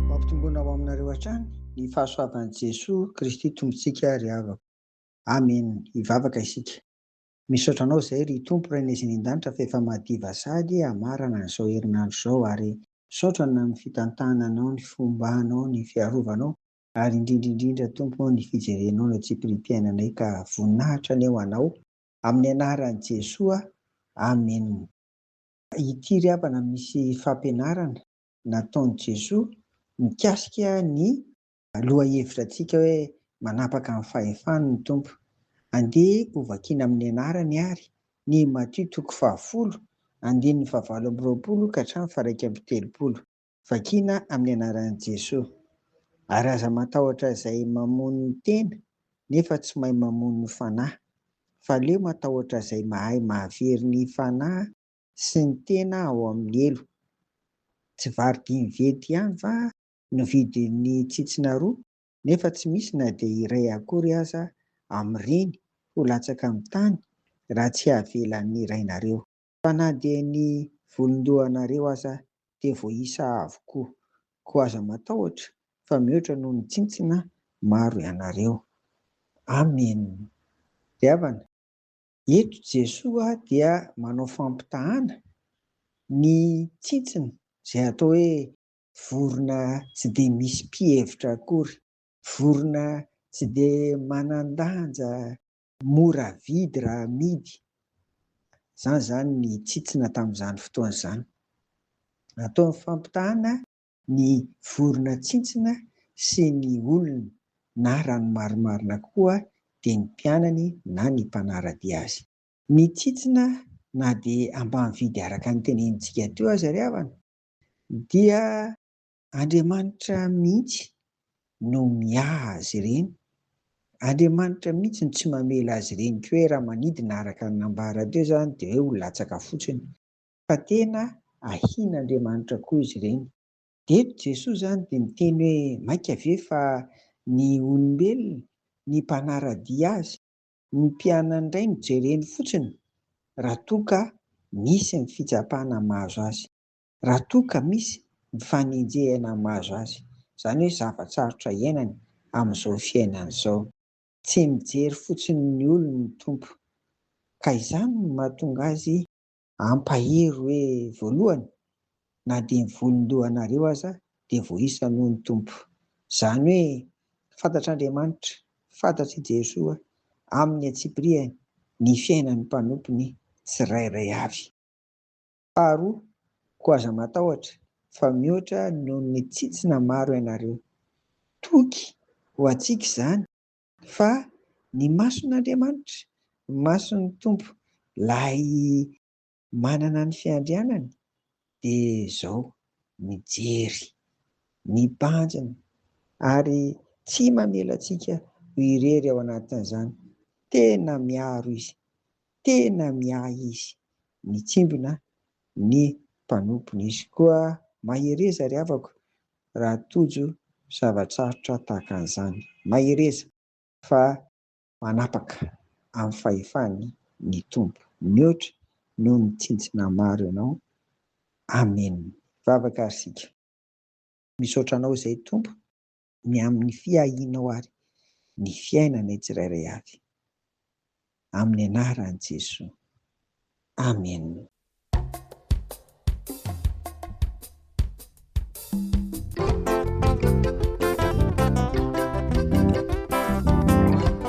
Mampitomboina ho aminareo hatrany ny fahasoavan'i Jesoa Kristy Tompontsika ry havako. Amen! Hivavaka isika. Misaotra Anao izay ry Tompo Rainay izay any an-danitra fa efa madiva sady hamarana an'izao herinandro izao ary misaotra Anao amin'ny fitantananao ny fombanao, ny fiarovanao ary indrindra indrindra Tompo ny fijerenao ny atsipiriam-piainanay ka voninahitra ny ho Anao. Amin'ny anaran'i Jesoa, Amen. Ity ry havana misy fampianarana nataon'i Jesoa mikasika ny lohahevitra antsika hoe manapaka ny fahefany ny Tompo. Andeha ho vakiana amin'ny anarany ary ny Matio toko fahafolo, andininy fahavalo amby roapolo ka hatramin'ny faha iraika amby telopolo. Vakina amin'ny anaran'i Jesoa. Ary aza matahotra izay mamono ny tena nefa tsy mahay mamono ny fanahy, fa aleo matahotra izay mahay mahavery ny fanahy sy ny tena ao amin'ny helo. Tsy vary dimy vety ihany va no vidin'ny tsitsina roa nefa tsy misy na dia iray akory aza amin'ireny ho latsaka amin'ny tany raha tsy avelan'ny Rainareo. Fa na dia ny volon-dohanareo aza dia voaisa avokoa. Koa aza matahotra, fa mihoatra noho ny tsintsina maro ianareo. Amena. Ry havana, eto Jesoa dia manao fampitahana ny tsintsina izay atao hoe vorona tsy dia misy mpihevitra akory, vorona tsy dia manan-danja Mora vidy raha amidy. Izany izany ny tsitsina tamin'izany fotoana izany. Natao ny fampitahana ny vorona tsintsina sy ny olona na raha ny marimarina koa dia ny mpianany na ny mpanara-dia azy. Ny tsitsina na dia ambany vidy araka ny tenenintsika teo aza ry havana dia. Andriamanitra mihitsy no miaha azy ireny. Andriamanitra mihitsy no tsy mamela azy ireny koa hoe raha manidina araka ny nambara teo izany dia hoe ho latsaka fotsiny fa tena ahian'Andriamanitra koa izy ireny. Dia eto Jesoa izany dia miteny hoe mainka ve fa ny olombelona, ny mpanara-dia azy, ny mpianany indray no jereny fotsiny raha toa ka misy ny fitsapana mahazo azy. Raha toa ka misy ny fanenjehana mahazo azy, izany hoe zava-tsarotra iainany amin'izao fiainany izao. Tsy mijery fotsiny ny olony ny Tompo, ka izany no mahatonga azy hampahery hoe, voalohany, na dia ny volon-dohanareo aza dia voaisany hoy ny Tompo. Izany hoe fantatr'Andriamanitra, fantatr'i Jesoa, amin'ny antsipirihany, ny fiainan'ny mpanompony tsirairay avy. Faharoa, koa aza matahotra, fa mihoatra noho ny tsitsina maro ianareo. Toky ho antsika izany, fa ny mason'Andriamanitra, ny mason'ny Tompo, Ilay manana ny fiandrianany, dia izao, mijery, mibanjina, ary tsy mamela antsika ho irery ao anatin'izany. Tena miaro Izy. tena miahy izy, mitsimbina ny mpanompony. Izy koa mahereza ry havako raha tojo zava-tsarotra tahaka an'izany. Mahereza fa manapaka amin'ny fahefany ny Tompo. Mihoatra noho ny tsintsina maro ianao. Amen. Vavaka ary isika. Misaotra anao izay Tompo. ny amin'ny fiahianao ary ny fiainanay tsirairay avy. Amin'ny anaran'i Jesoa. Amen.